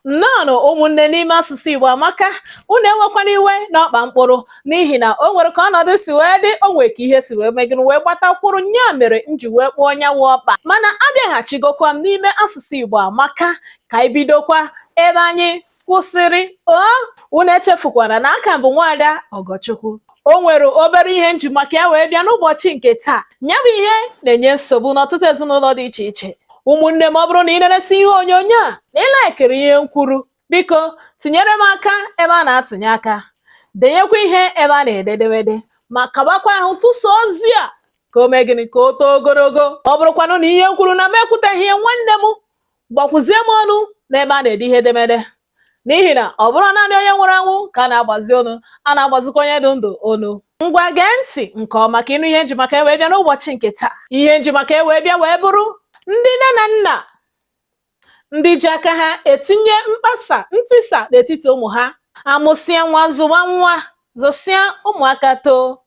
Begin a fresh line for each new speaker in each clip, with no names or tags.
nnọọnụ ụmụnne n'ime asụsụ Igbo amaka unu enwekwana iwe na ọkpa m kpụrụ n'ihi na o nwere ka ọnọdụ si wee dị o nwere ka ihe si wee mee gịnị wee gbatakwụrụ nya mere m ji wee kpụọ nya wụ ọkpa mana abịaghachigokwa m n'ime asụsụ Igbo amaka ka anyị bidokwa ebe anyị kwụsịrị o unu echefukwana na a ka m bụ nwaada Ọgọchukwu o nwere obere ihe m ji maka ya wee bịa n'ụbọchị nke taa nya bụ ihe na-enye nsogbu n'ọtụtụ ezinụlọ dị iche iche ụmụnne m ọ bụrụ na ị na-eresi ihe onyonyo a na ị laikiri ihe m kwuru biko tinyere m aka ebe a na-atụnye aka denyekwa ihe ebe a na-ede edemede ma kabakwa ahụ tụsa ozi a ka o mee gịnị ka o too ogologo ọ bụrụkwanụ na ihe m kwuru na m ekwuteghị ya nwanne m gbakwuzie m onu n'ebe a na-ede ihe edemede n'ihi na ọ bụrọ naanị onye nwụrụ anwụ ka a na-agbazi onu a na-agbazikwa onye dị ndụ onu ngwa gee ntị nke ọma ka ị nụ ihe m ji maka ya wee bịa n'ụbọchị nke taa ihe m ji maka ya wee bịa wee bụrụ ndị nne na nna ndị ji aka ha etinye mkpasa ntisa n'etiti ụmụ ha a mụsịa nwa zụwa nwa zụsịa ụmụaka too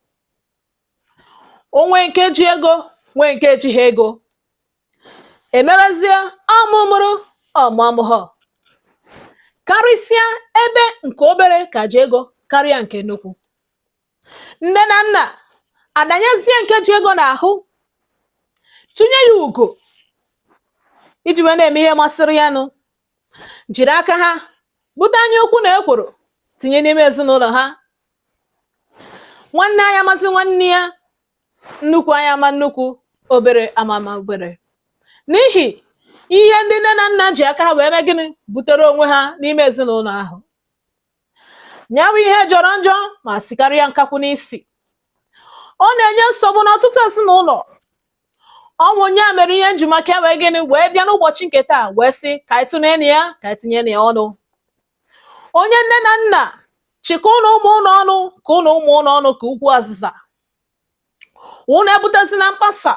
o nwee nke ji ego nwee nke ejighị ego èmebezie ọ mụ mụrụ ọ̀ mụ amụhọ̀ karịsịa ebe ǹkè obere kà ji egȯ karịa ǹkè nnukwu nne na nnà àdànyezie ǹke ji egȯ n'àhụ tụnye ya ùgò iji wèe na-ème ihe masịrị ya nụ jìrì aka ha bute anya ukwu nà ekwòrò tìnye n'ime èzinụlọ̀ ha nwanne anya amazi nwanne ya nnukwu anya ama nnukwu obere ama ama obere n'ihi ihe ndị nne na nna ji aka ha wee mee gịnị butere onwe ha n'ime ezinụlọ ahụ nya wụ ihe jọrọ njọ ma sikarịa nkakwụ n'isi ọ na-enye nsogbu n'ọtụtụ ezinụlọ ọ bụ nya mere ihe m ji maka ya wee gịnị wee bịa n'ụbọchị nke taa wee sị ka anyị tụnye na ya ka anyị tinye na ya ọnụ onye nne na nna chịkọọnụ ụmụ unu ọnụ chịkọọnụ ụmụ unu ọnụ ka ukwu azịza unu ebutezina mkpasa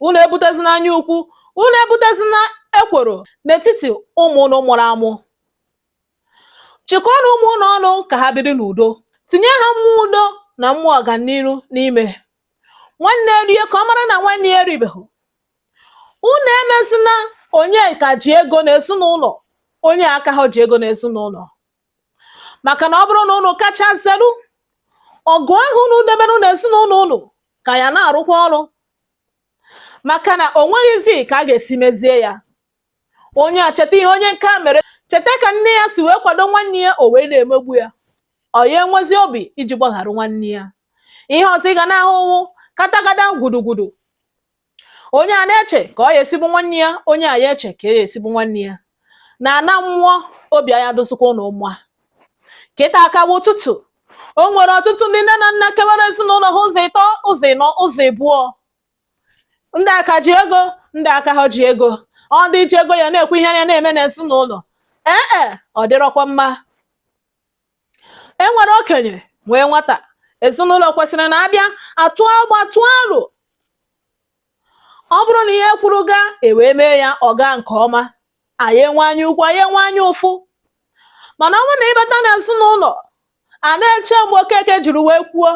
unu ebutezina anya ukwu unu ebutezina ekworo n'etiti ụmụ unu mụrụ amụ chịkọọnụ ụmụ unu ọnụ ka ha biri n'udo tinye ha mmụọ udo na mmụọ ọganiru n'ime nwanne rie ka ọ mara na nwanne ya eribeghị unu emezina onye ka ji ego n'ezinụlọ onye akaha ji ego n'ezinụlọ maka na ọ bụrụ na unu kacha zelu ọgụ ahụ unu debere n'ezinụlọ unu ka ya na-arụkwa ọrụ maka na o nweghịzi ka a ga-esi mezie ya onye a cheta ihe onye nke a mere cheta ka nne ya si wee kwado nwanne ya o wee na-emegbu ya ọ nya enwezi obi iji gbaghara nwanne ya ihe ọzọ ị ga na-ahụ wụ katagada gwudugwudu onye a na-eche ka ọ ya-esi gbu nwanne ya onye a ya eche ka ọ ya-esi gbu nwanne ya na ana mmụọ obi aya adịzikwa unu mma kịta a ka wụ ụtụtụ o nwere ọtụtụ ndị nne na nna kewara ezinụlọ ha ụzọ ịtọ ụzọ ịnọ ụzọ ịbụọ ndị aka ji ego ndị aka ha ji ego ọ ndị ji ego ya na-ekwu ihe a ya na-eme n'ezinụlọ ee e ọ dịrọkwa mma e nwere okenye nwee nwata ezinụlọ kwesịrị na a bịa atụ agba tụọ aro ọ bụrụ na ihe e kwuru gaa e wee mee ya ọ gaa nke ọma a ya enwe anya ukwu a ya enwe anya ụfụ mana ọ bụrụ na ị bata n'ezinụlọ a na-eche mgbe okeke jiri wee kwuo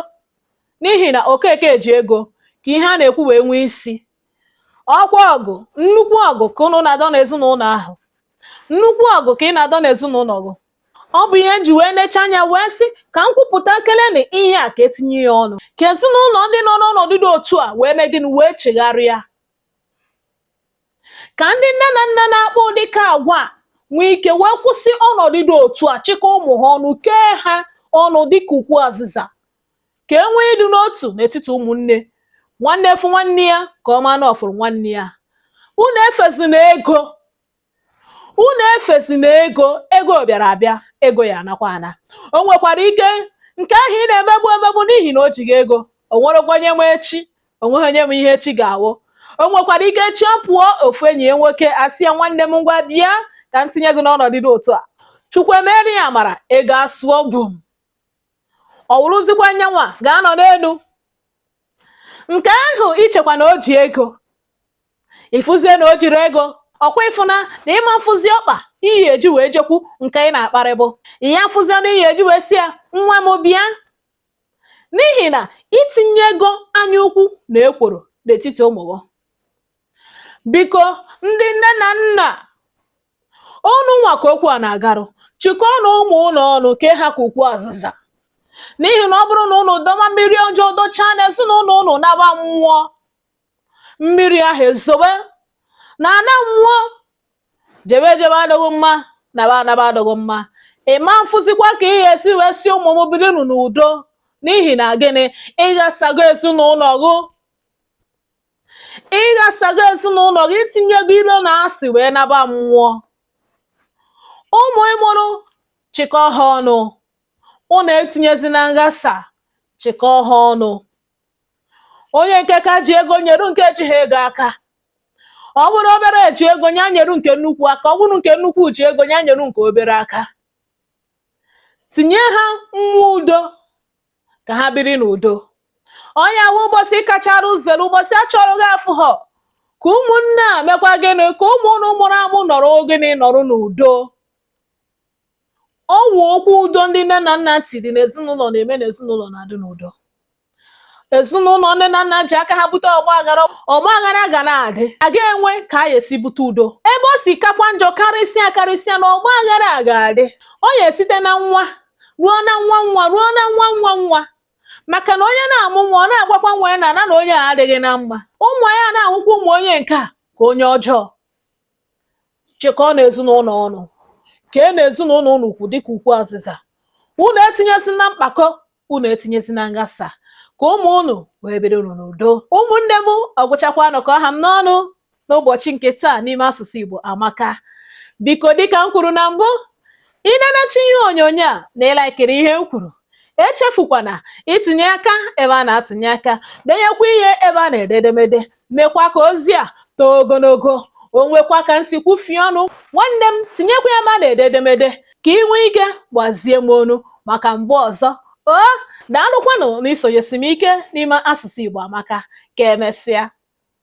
n'ihi na okeke ji ego ka ihe a na-ekwu wee nwee isi ọ kwa ọgụ nnukwu ọgụ ka unu na-adọ n'ezinụlọ ahụ nnukwu ọgụ ka ị na-adọ n'ezinụlọ gị ọ bụ ihe m ji wee necha anya wee sị ka m kwupụta keleni ihe a ka e tinye ya ọnụ ka ezinụlọ ndị nọ n'ọnọdụ dị otu a wee mee gịnị wee chegharịa ka ndị nne na nna na-akpa ụdị ka agwa a nwee ike wee kwụsị ọnọdụ dị otu a chịkọọ ụmụ ha ọnụ kee ha ọnụ dịka ukwu azịza ka e nwee ịdị n'otu n'etiti ụmụnne nwanne fụ nwanne ya ka ọ maa na ọ fụrụ nwanne ya unu efezina ego unu efezina ego ego bịara abịa ego ya-anakwa ana o nwekwara ike nke ahụ ị na-emegbu emegbu n'ihi na o jighị ego o nwerọkwa onye ma echi o nweghị onye ma ihe echi ga-awụ o nwekwara ike echi ọ pụọ ofu enyi ya nwoke asị ya nwanne m ngwa bịa ka m tinye gị n'ọnọdụ dị otu a chukwu emere ya amara ego asụọ bum ọ wụrụzikwa nyanwa ga-anọ n'elu nke ahụ i chekwa na o ji ego ị fụzie na o jirọ ego ọ kwa ị fụna na ị ma mfụzi ọkpa ị ya-eji wee jekwu nke ị na-akparịbụ ị ya mfụzi ọnụ ị ya-eji wee sị ya nwa m bịa n'ihi na i tinyego anya ukwu na ekworo n'etiti ụmụ gị biko ndị nne na nna Unu nwa ka okwu a na-agarụ, chịkọọnụ ụmụ unu ọnụ kee ha ka ukwu azịza. N'ihi na ọ bụrụ na unu dọba mmiri ọjọọ dọchaa n'ezinụlọ unu naba mmụọ, mmiri ahụ ezobe na ana mmụọ, jebe ejebe adịghị mma, naba anaba adịghị mma. Ị ma mfụzikwa ka ị ya-esi wee sị ụmụ m birinụ n'udo n'ihi na gịnị? Ị ghasago ezinụlọ gị. ị ghasago ezinụlọ gị i tinyego ilo na asị wee naba mmụọ ụmụ ị mụrụ chịkọọ ha ọnụ unu etinyezina nghasa chịkọọ ha ọnụ onye nke ka ji ego nyeru nke ejighị ego aka ọ bụrụ obere ji ego ya nyeru nke nnukwu aka ọ bụrụ nke nnukwu ji ego ya nyeru nke obere aka tinye ha mmụọ udo ka ha biri n'udo ọ ya wụ ụbọchị kachara uzere ụbọchị a chọrọ gị afụhọ ka ụmụnne a mekwa gịnị ka ụmụ unu mụrụ amụ nọrọ gịnị nọrọ n'udo ọ wụ okwu udo ndị nne na nna tiri n'ezinụlọ na-eme na ezinụlọ na-adị n'udo ezinụlọ nne na nna ji aka ha bute ọgba aghara ọgba aghara ga na-adị a ga-enwe ka a ga-esi bute udo ebe o si kakwa njọ karịsịa karịsịa na ọgba aghara a ga-adị ọ ya esite na nwa ruo na nwa nwa ruo na nwa nwa nwa maka na onye na-amụ nwa ọ na-agwakwa nwa ya na na na onye a adịghị na mma ụmụ ya na-ahụkwa ụmụ onye nke a ka onye ọjọọ chịkọọ na ezinụlọ ọnụ kee na ezinụlọ unu ukwu dịka ukwu azịza unu etinyezina mkpakọ unu etinyezina nghasa ka ụmụ unu wee biri unu n'udo ụmụnne m ọ gwụchakwanụ ka ọ ha m n'ọnụ n'ụbọchị nke taa n'ime asụsụ Igbo amaka biko dịka m kwuru na mbụ i nenecha ihe onyonyo a na ị laikiri ihe m kwuru echefukwana itinye aka ebe a na-atụnye aka denyekwa ihe ebe a na-ede edemede mekwa ka ozi a too ogologo o nwekwa ka m si kwufie ọnụ nwanne m tinyekwa ebe a na-ede edemede ka ị nwee ike gbazie m ọnụ maka mgbe ọzọ o daalụkwanụ na isonyesi m ike n'ime asụsụ Igbo amaka ka emesịa